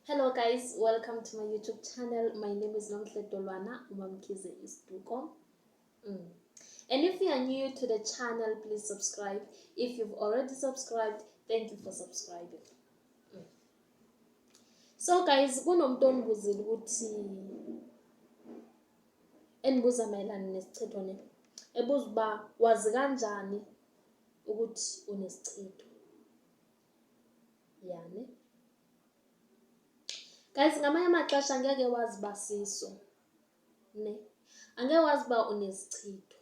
Hello guys, welcome to my YouTube channel. My name is Nomhle Dolwana Umamkize Isduko. Mm. And if you are new to the channel, please subscribe. If you've already subscribed, thank you for subscribing. Mm. So guys, kunomuntu ongibuzile ukuthi endibuza mayelana nesichitho ne ebuza uba wazi kanjani ukuthi unesichitho yane guys ngamanye amaxesha ngeke wazi uba siso ne angeke wazi uba unesichitho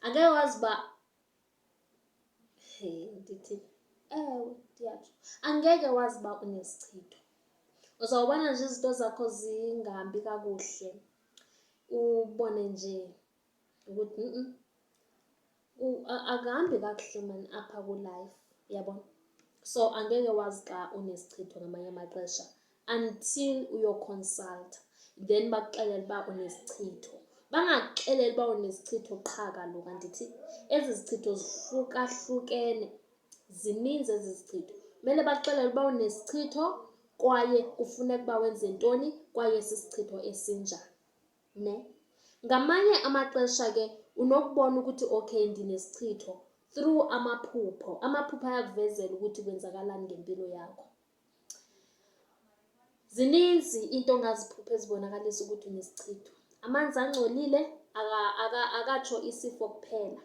angeke wazi uba he ndithi ewe ndiyatsho angeke wazi uba unesichitho uzawubona nje izinto zakho zingahambi kakuhle ubone nje ukuthi akuhambi kakuhle mani apha kwilayifu yabona so angeke wazi xa unesichitho ngamanye amaxesha until uyoconsulta then bakuxelele uba unesichitho bangakuxeleli uba unesichitho qha kaloku andithi ezi zichitho zihlukahlukene zininzi ezi zichitho kumele bakuxelele uba unesichitho kwaye kufuneka uba wenze ntoni kwaye sisichitho esinjani Ne? Ngamanye amaxesha ke unokubona ukuthi okay ndinesichitho through amaphupho. Amaphupho ayakuvezela ukuthi kwenzakalani ngempilo yakho. Zininzi into ongaziphupha ezibonakalisa ukuthi unesichitho. Amanzi angcolile akatsho isifo kuphela,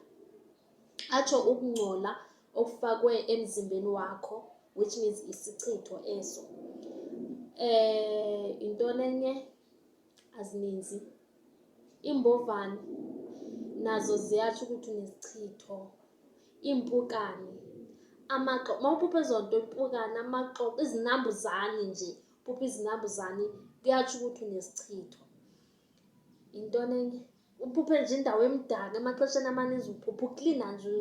atsho ukungcola okufakwe emzimbeni wakho which means isichitho eso. Eh, yintoni enye? azininzi iimbovane nazo ziyatsho ukuthi unesichitho iimpukane amaxo mawuphupha ezo nto impukane amaxo izinambuzane nje phupha izinambuzane kuyatsho ukuthi unesichitho yintoni enye Uphuphe nje indawo emdaka, emaxesheni amaninzi uphupha uklina nje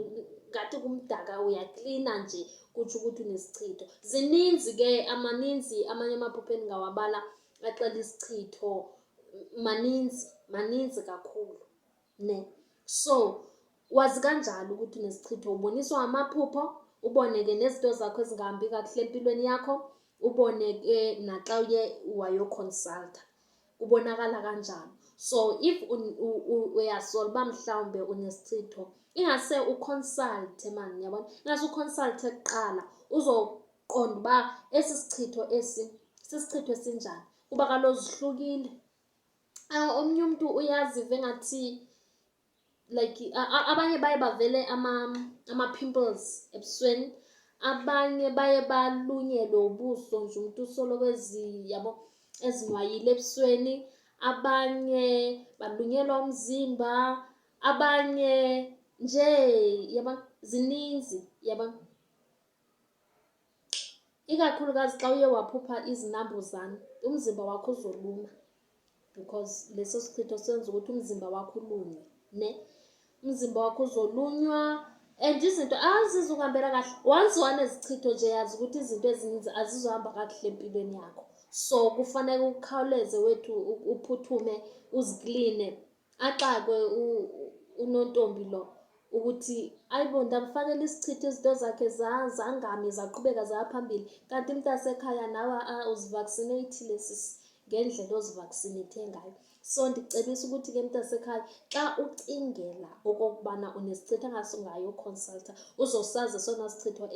ngathi kumdaka uyaklina nje kutsho ukuthi unesichitho. Zininzi ke amaninzi amanye amaphupha endingawabala axela isichitho, maninzi maninzi kakhulu ne. So wazi kanjalo ukuthi unesichitho, uboniswa amaphupho ubone ke nezinto zakho ezingahambi kakuhle empilweni yakho, ubone ke naxa uye wayokhonsaltha. kubonakala kanjalo so if uyasola uba mhlawumbe unesichitho ingase uconsulte mani yabona ingase uconsulte kuqala uzoqonda uba esi sichitho esi sisichitho esinjani kuba kaloku zihlukile omnye umntu uyaziva engathi like abanye baye bavele ama-pimples ebusweni, abanye baye balunyelwe ubuso nje umntu usoloko yabo ezinwayile ebusweni, abanye balunyelwa umzimba, abanye nje yabona, zininzi yabona. Ikakhulukazi xa uye waphupha izinambuzane umzimba wakho uzoluma because leso sichitho senza ukuthi umzimba wakho ulunywe ne. Umzimba wakho uzolunywa and izinto azizukuhambela kahle. Once wanezichitho nje yazi ukuthi izinto ezininzi azizohamba kakuhle empilweni yakho. So kufanele ukhawuleze wethu uphuthume uzikline axakwe unontombi lo ukuthi ayibo ndamfanele isichitha izinto zakhe zangami zaqhubeka zaya phambili kanti mntasekhaya nawe uzivaccinatile sisi ngendlela ozivaccinate ngayo so ndicebisa ukuthi ke mntasekhaya xa ucingela okokubana unesichitha ngaso ngayo uconsulta uzosazi sona sichitho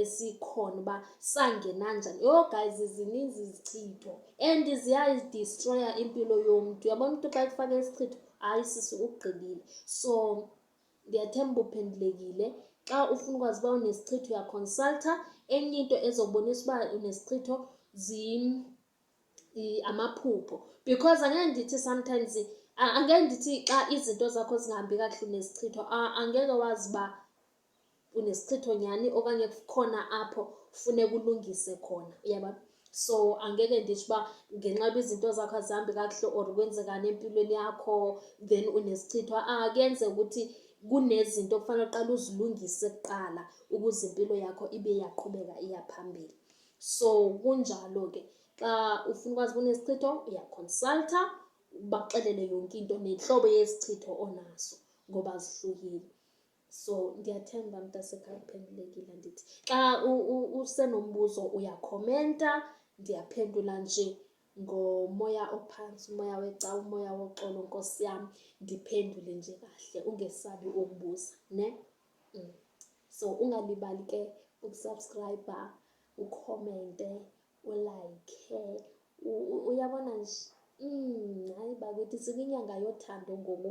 esikhona uba sangena njani. Yho guys zininzi izichitho and ziyayidistroya impilo yomntu. Uyabona umntu xa ekufake isichitho, hayi sisi ukugqibile. So ndiyathemba uphendulekile. Xa ufuna ukwazi uba unesichitho uyakhonsaltha. Enye into ezobonisa uba unesichitho amaphupho because angeke ndithi sometimes angeke ndithi xa izinto zakho zingahambi kakuhle unesichitho angeke wazi uba unesichitho nyhani okanye kukhona apho funeka ulungise khona uyaba so angeke nditsho uba ngenxa yoba izinto zakho azihambi kakuhle or kwenzekani empilweni yakho then unesichithwa ah, kuyenzeka ukuthi kunezinto okufanele uqala uzilungise kuqala ukuze impilo yakho ibe iyaqhubeka iya phambili so kunjalo ke xa ufuna ukwazi kunesichitho uyaconsulta ubaxelele yonke into nentlobo yesichitho onaso ngoba zihlukile so ndiyathemba mntasekhaya uphendulekile ndithi xa usenombuzo uyakhomenta ndiyaphendula nje ngomoya ophantsi umoya wecawa umoya woxolo nkosi yam ndiphendule nje kahle ungesabi ukubuza ne mm. so ungalibali ke ukusubscribe ukhomente ulike uyabona nje mm, hayi bakuthi sikinyanga yothando ngoku